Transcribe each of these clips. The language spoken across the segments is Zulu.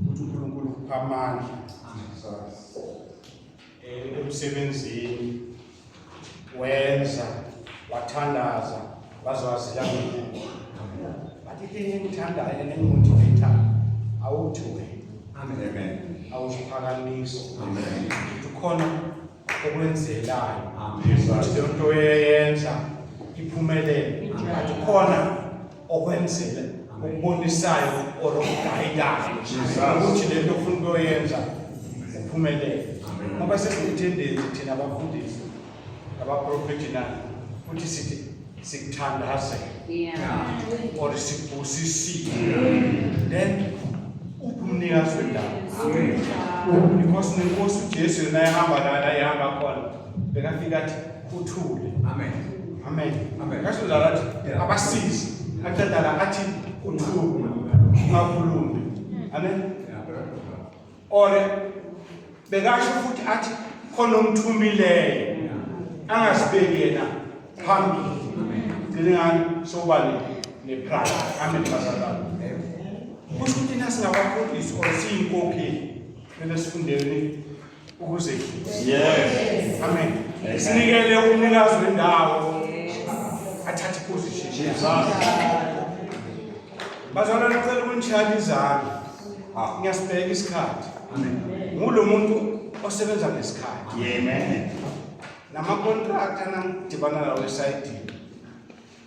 ukuthi uNkulunkulu ukupha amandla eh, emsebenzini wenza wathandaza wazwazila mina but into engithandayo nengimuthethana awuthuke amen awuziphakamiso amen ukhona okwenzekayo ukuthi leyo nto eyenza iphumelele ngathi khona okwenzile okubonisayo or okugayidayo ukuthi le nto ofuna ukuyoyenza uphumelele ngoba sesiyithendezi thina abafundisi abaprofethi na futhi sithi sikuthandaze yeah. or sikubusisile yeah. then ubumnikazi wendawo because nenkosi ujesu yona yahamba lana ihamba khona bekafika athi kuthule amen amen amen kasho njalo athi abasizi aqeda la athi kuthule ungakhulumi amen or bekasho futhi athi khona omthumileyo angasibeki yena phambili ngicela ngani sokuba nepride amen bazalwane kusho ukuthi nasingabafundisi or siyinkokheli kumele sifundeni ukuzehlisa yes amen sinikele umnikazi wendawo athathe iposition Bazalwane ngicela ukunishaya izandla. Ah. Ngiyasibheka isikhathi. Amen. Ngulo muntu osebenza ngesikhathi. Amen. Nama contract anangidibana nawo esayidini.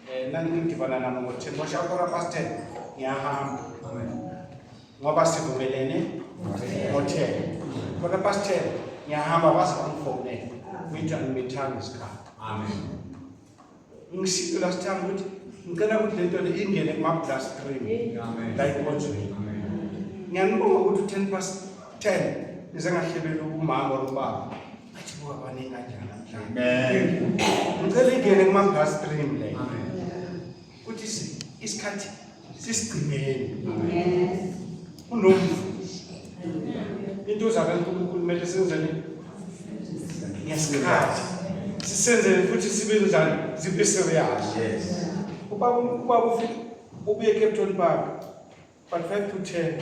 Eh nangidibana namo ngoThemba Shakora Pastor ngiyahamba. Amen. Ngoba sivumelene ngoThemba. Kona Pastor ngiyahamba base bangifonele. Ngitha ngimithanda isikhathi. Amen. Ngishiye last time ukuthi ngicela ukuthi lento le ingene kuma blast screen. Amen. La ikhonjweni. Amen. Ngiyanibonga ukuthi 10 past 10 nize ngahlebela ubumama or ubaba. Athi buka baningi kanjani namhlanje. Amen. Ngicela ingene kuma blast screen le. Amen. Kuthi isikhathi sisigcineni kunomvuzo into zabe uNkulunkulu kumele senzele ngesikhathi sisenzele futhi sibe njani zibe serious yes ubaba ubaba ufike ubuye eCape Town Park but 5 to 10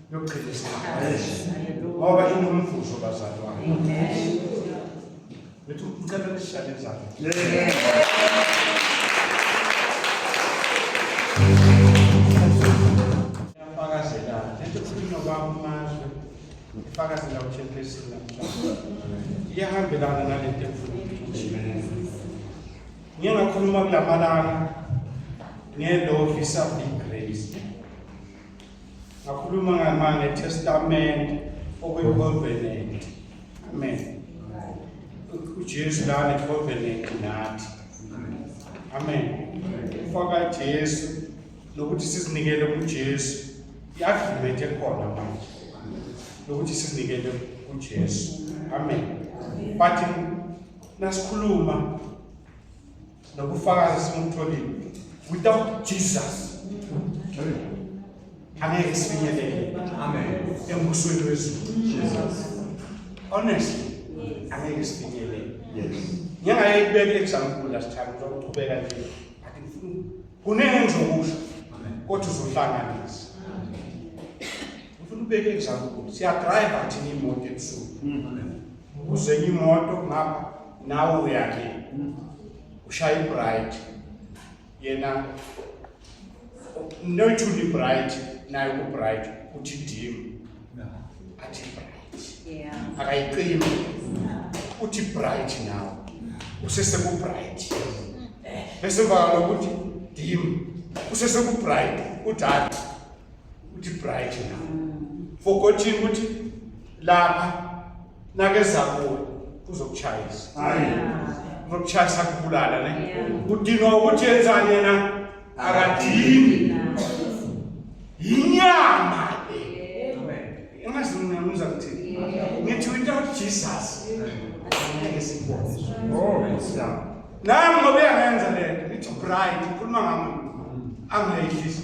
yokugcina ngoba inomvuzo bazalwane bethu ngicela nishale izandla yafakazela lento kukhulunywa kwamazwe ifakazela uthempesini namhlanje iyahambelana nalento ngike ngakhuluma kulamalanga ngelovi something ngakhuluma ngetestamente okuyicovenant amen ujesu lana icovenant nathi amen ufaka jesu nokuthi sizinikele kujesu i-agreement ekhona manje nokuthi sizinikele kujesu amen but nasikhuluma nobufakazi esingumtholile without jesus angeke sifinyelele amen embusweni wezulu jesus honestly angeke sifinyelele yes ngingaye kubeka example last time uzoqhubeka nje athi ngifuna kunenge ngizokusho kodwa uzohlanganisa ngifuna ubeke example siya drive athi imoto ebusuku Uzenye imoto ngapha nawe uyakhe ushaya ibright yena noyithula ibright naye kubright uthi dim athi bright akayiqimi uthi bright nawe usesekubright bese emva kalokuthi dim usesekubright udala ukuthi bright na forgotten ukuthi lapha nakeza kuwe uzokuchayisa hayi uzokuchayisa kubulala ne udinga ukuthi yenzani yena akadini yinyama engazi mina ngiza kuthi ngithi without jesus ngeke sikubone oh yeah nami ngobe yangenza lento ngithi bright ukhuluma ngami angayihlisi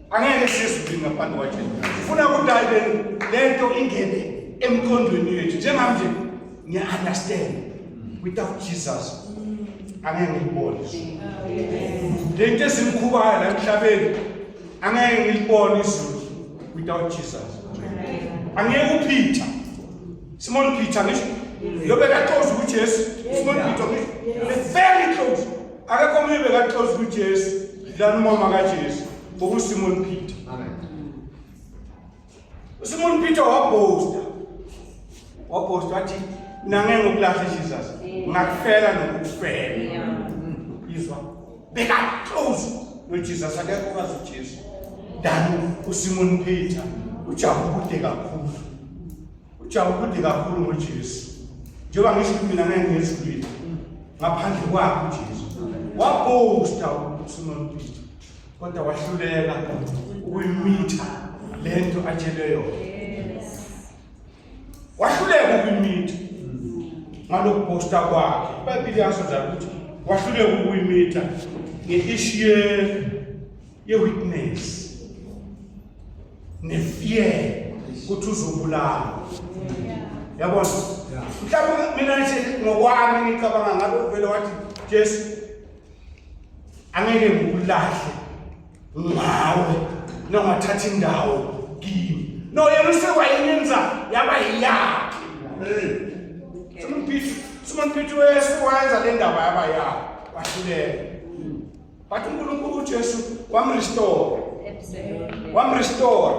angeke sizwi ngaphandle kwaJesu ngifuna ukuthi ayibe lento ingene emkhondweni yethu njengamanje ngiya understand without Jesus angeke ngibone lento esimkhubayo la emhlabeni angeke ngilibone izulu without Jesus angeke uPeter Simon Peter ngisho lobe kaxoza ukuthi Jesu Simon Peter ngisho very close akekho omunye bekaxoza kujesu lana umama kajesu bokusimoni peter usimoni peter wabhosta wabhosta wathi nange ngokulahla jesus ngakufela nokufela izwa bekaxoza nojesus akekho kazi ujesu dani usimoni peter ujabukude kakhulu Ujabu kude kakhulu ngoJesu. Njengoba ngisho ukuthi mina ngeke ngizulile ngaphandle kwakhe uJesu. Wabhosta uSimon Peter kodwa wahluleka ukuyimitha lento atshele yona. Wahluleka ukuyimitha ngalokubhosta kwakhe. IBhayibheli yasho ukuthi wahluleka ukuyimitha nge-ishiye yewitness nefear ukuthi uzobulawa yabona mhlawumbe mina nje ngokwami ngicabanga ngabe uvele wathi jesu angeke ngikulahle ngawe nongathatha indawo kimi no yena usewayenenza yaba yiyakhe simon peter simon peter wesu wayenza le ndaba yaba yakhe wahluleka But uNkulunkulu uJesu wamrestore. Wamrestore.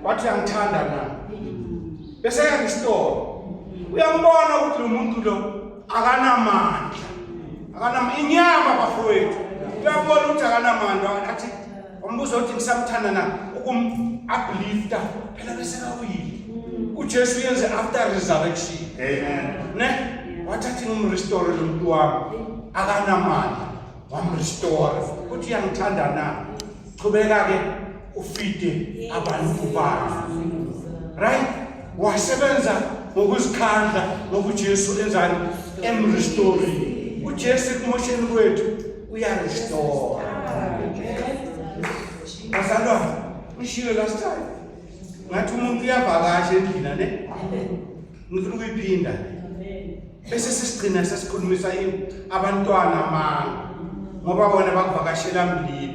Wathi uyangithanda na? Bese yarestore. Uyambona ukuthi lo muntu lo akanamandla. Akanam inyama bafowethu. Uyabona ukuthi akanamandla athi Umbuzo othi ngisamthanda na ukum uplifta phela bese kawile. UJesu yenze after resurrection. Amen. Ne? Wathatha um restore lo muntu wami akanamali. Wam restore. Uthi uyangithanda na? Qhubeka ke ufide abantu bakho. Right? Wasebenza ngokuzikhandla ngokuJesu enzani? Emrestore. UJesu kumosheni kwethu uyarestore bazalwane ngishilo last time ngathi umuntu uyavakasha endlina ne ngifuna ukuyiphinda bese sisigcina sesikhulumisa abantwana amanga ngoba bona bakuvakashela mlilo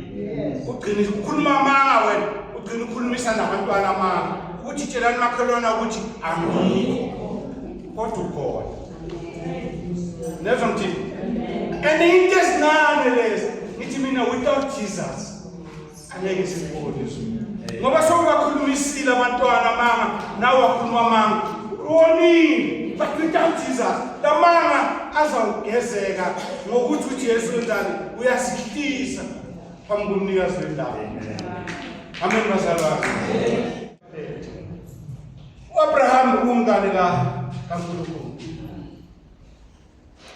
ugcina ukhuluma amanga wena ugcina ukhulumisa nabantwana amanga ukuthi tshelani makhelwana ukuthi angikho kodwa ukhona nezwa ngithini and into ezincane lezi ngithi mina without jesus angeke sikubone izulu ngoba sokubakhulumisile abantwana amanga nawe wakhuluma amanga wonile but without jesus la manga azawugezeka ngokuthi ujesu wenzani uyasihlisa phambi komnikazi wendawo amen bazalwane U-Abraham ubumngane ka kaNkulunkulu.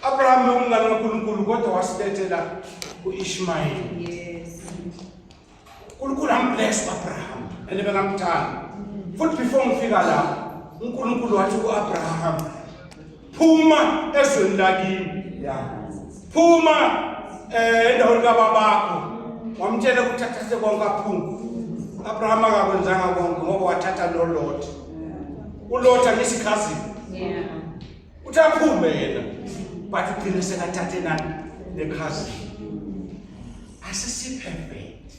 Abraham ubumngane kaNkulunkulu kodwa wasibethela uIshmael. Yes. uNkulunkulu ambless uAbraham and bekamthanda. Futhi before ngifika la uNkulunkulu wathi kuAbraham phuma ezweni lakini phuma eh endaweni kababakho wamtshela ukuthi athathe konke aphuma Abraham akakwenzanga konke ngoba wathatha lo Lot uLot angisikhazi yeah uthi aphume yena but ugcine sekathathe nani nekhazi asisi perfect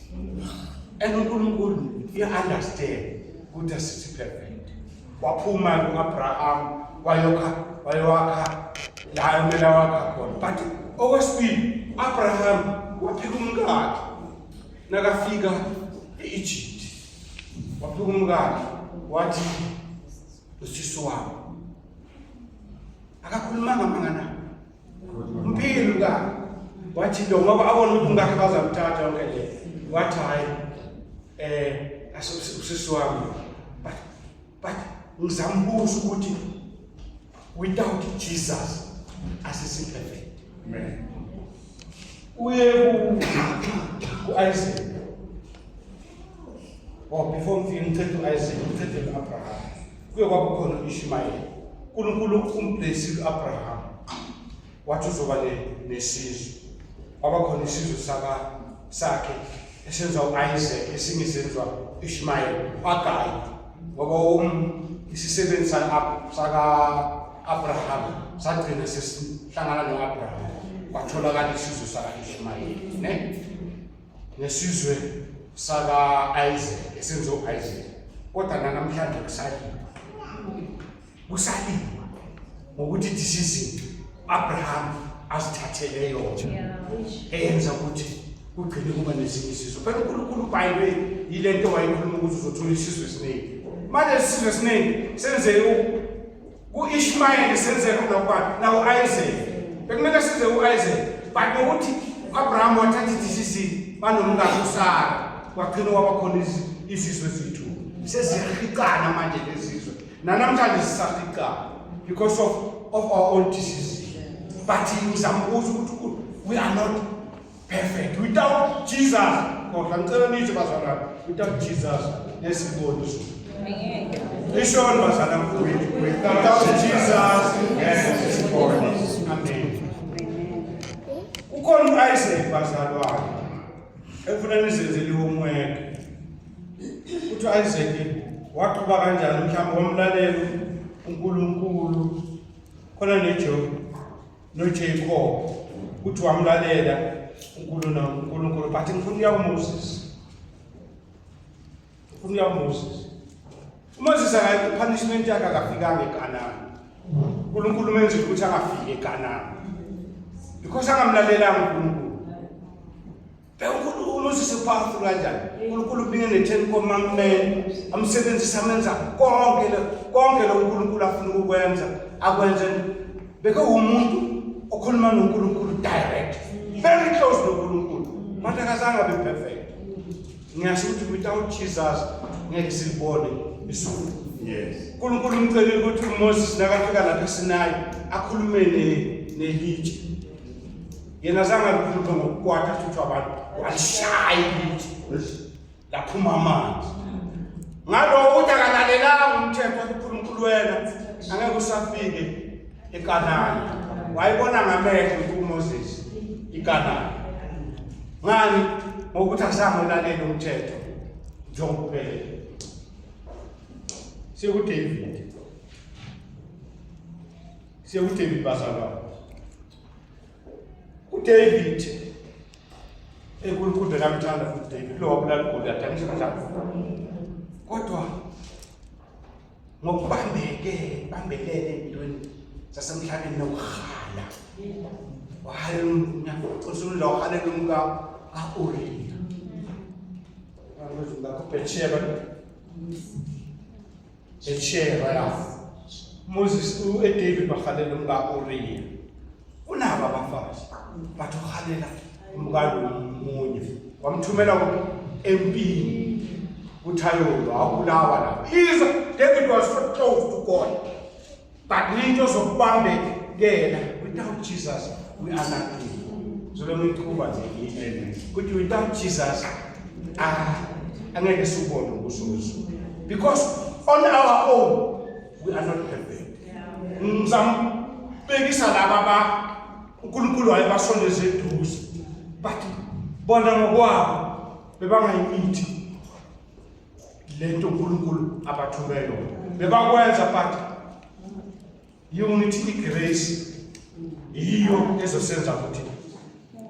and uNkulunkulu you understand ukuthi asisi perfect waphuma uAbraham wayokha wayowakha la kumele wakha khona but okwesibili Abraham waphika umkakhe nakafika e-Egypt waphika umkakhe wathi usisi wami akakhulumanga mangana Mpilo ka wathi lo ngoba abona ukuthi ngakhe bazamthatha yonke le wathi hayi eh asisisi wami but but ngizambuza ukuthi without Jesus asisi perfect amen uye ku ku Isaac oh before ngifike ngithethe u Isaac ngithethe u Abraham kuye kwaba khona u-ishumayeli unkulunkulu umblesile u-abraham wathi uzoba nesizwe kwaba khona isizwe sakhe esenza u-isaac esinye senziwa u-ishumayeli agayi ngoba um isisebenzi saka-abraham sagcina sesihlangana no-abraham kwatholakala isizwe saka-ishumayeli ne nesizwe saka-isaac esenze u-isaac kodwa nanamhlanje kusaliwa kusaliwa ngokuthi disizini u-abraham azithathele yona eyenza ukuthi kugcine kuba nezinye isizwe phela unkulunkulu ubhayibwe yile nto wayekhuluma ukuthi uzothola isizwe esiningi manje isizwe esiningi senze Ku-Ishmayeli senze khona kubani? Naku-Isaac. Bekumele size u-Isaac. But nokuthi u-Abraham wathatha i-DCC banomngane uSara wagcina wabakhona izizwe zethu seziyahicana manje lezizwe nanamhlanje sisahicana because of, of our own disease but ngizambuza ukuthi we are not perfect without jesus kodwa ngicela nithi bazalwane without jesus nesiboni ishoni bazalwane without jesus nesiboni amen ukhona uisaac bazalwane ekufuna nizenzele homework uthi uisaac waqhuba kanjani mhlawumbe wamlalela unkulunkulu khona nejobe noJacob uthi wamlalela uNkulunkulu uNkulunkulu but ngifuna uya uMoses ngifuna uya uMoses uMoses akayi kupunishment yakhe akafikanga eKanani uNkulunkulu menze ukuthi angafiki eKanani because angamlalelanga uNkulunkulu uNkulunkulu uzise phansi kanjani uNkulunkulu ubinge ne-ten commandment amsebenzise amenza konke konke lo uNkulunkulu afuna ukukwenza akwenze beke umuntu okhuluma noNkulunkulu direct very close noNkulunkulu manje akazange abe perfect ngiyasho ukuthi without jesus ngeke silibone isuku yes uNkulunkulu umcelile ukuthi uMoses nakafika lapha eSinayi akhulume nelitshe yena azange alutho ngokukwata futhi abantu walishaya ibuthi laphuma amanzi ngaloko ukuthi akalalelanga umthetho unkulunkulu wena angeke usafike ekanani wayibona ngamehlo kumoses ikanani ngani ngokuthi azange ulalele umthetho njengokuphelele sekudavid sekudavid bazalwane uDavid enkulunkulu namthanda futhi David lo wabulala uGoliath angisho kanjalo kodwa ngokubambeke bambelele empilweni zasemhlabeni nokuhala wahala usulela wahalela umka ka-uriya ngakho bethsheba Eshera ya. Moses u e David ba khalela umka Uriya. Unaba abafazi. Bathu khalela umka lomunye. Wamthumela ku empini. Uthayolo awulawa la. Iza David was so close to God. but into zokubambekela without Jesus we are nothing zolona iqhuba nje amen kuthi without Jesus ah angeke sikubone ukuzuzu because on our own we are not perfect ngizambekisa laba ba uNkulunkulu wayebasondeza eduze but bona ngokwabo bebangayimithi lento uNkulunkulu abathume yona bebakwenza but unity igrace yiyo ezosenza ukuthi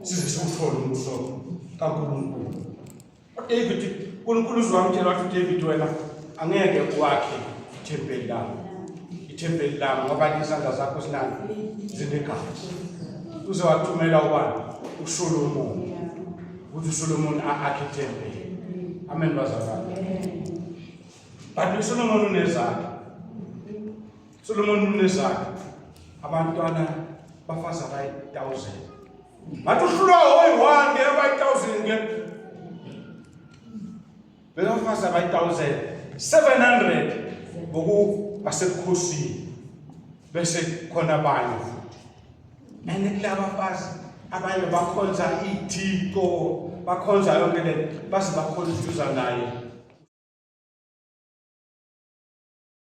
size siwuthole umbuso kaNkulunkulu uDavid uNkulunkulu uzwamtshela wathi uDavid wena angeke kwakhe ithempeli lami ithempeli lami ngoba izandla zakho sinani zinegazi uze wathumela ubani uSolomon ukuthi uSolomon akhe ithempeli amen bazalwane but uSolomon unezakhe Solomon unezakhe abantwana bafazi abayi-1000 ngathi uhlulwa oyi-one ke abayi-1000 ke Bekafazi abayi-1700 ngokubasebukhosini bese khona abanye futhi nani kulaba bafazi abanye bakhonza iy'thixo bakhonza yonke le baze bakhonza uduza naye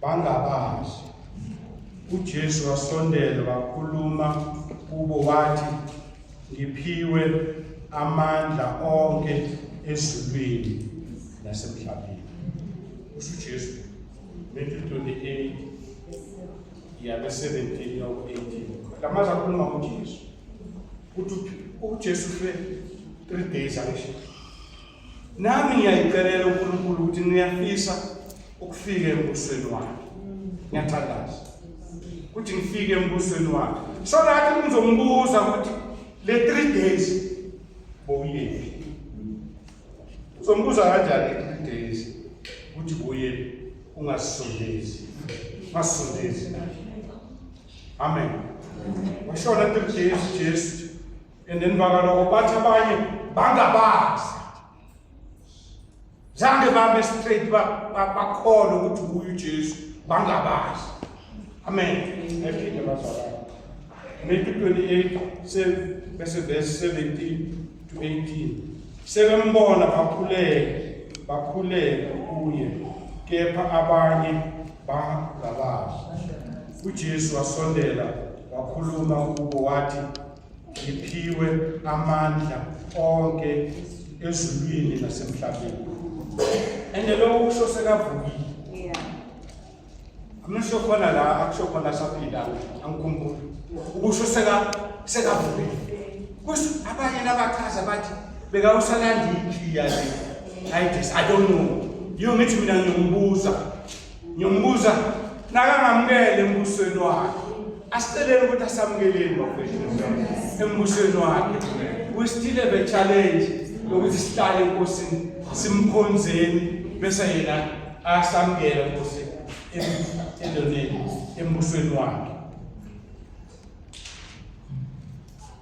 bangabazi. UJesu wasondela wakhuluma kubo wathi, Ngiphiwe amandla onke ezulwini nasemhlabeni. Kusho uJesu, Matthew 28 yabe 17 yaku 18. Lamaza akhuluma ngoJesu. Uthi uJesu fe 3 days akusho. Nami ngiyayicelela uNkulunkulu ukuthi niyafisa ukufika embusweni wakhe. Ngiyathandaza ukuthi ngifike embusweni wakhe. So lathi ngizombuza ukuthi le 3 days bowuyephi? Uzombuza kanjani 3 days ukuthi bowuyephi? Ungasondezi. Masondezi. Amen. Washona 3 days Jesu and then bakaloko bathi abanye bangabazi zange bame straight bakholwe ukuthi nguye ujesu bangabazi amen ephinde bazalana maybe 28 bese verse 17 to 18 sebembona bakhuleke bakhuleke kuye kepha abanye bangabazi ujesu wasondela wakhuluma kubo wathi Ngiphiwe amandla onke ezulwini nasemhlabeni. And lokho kusho sekavukile. Yeah. Amusho khona la akusho khona saphinda angikhumbuli. Ukusho seka sekavukile. Kusi abanye labachaza bathi bekawusalanda ikhliya le. I don't know. Yongithi mina ngiyombuza Ngiyombuza nakangamukele embusweni wakhe. Asiceleni ukuthi asamukeleni bafethu embusweni wakhe. We still have a challenge yokuthi sihlale enkosini simkhonzeni bese yena asamukela inkosi endoneni embusweni wakhe.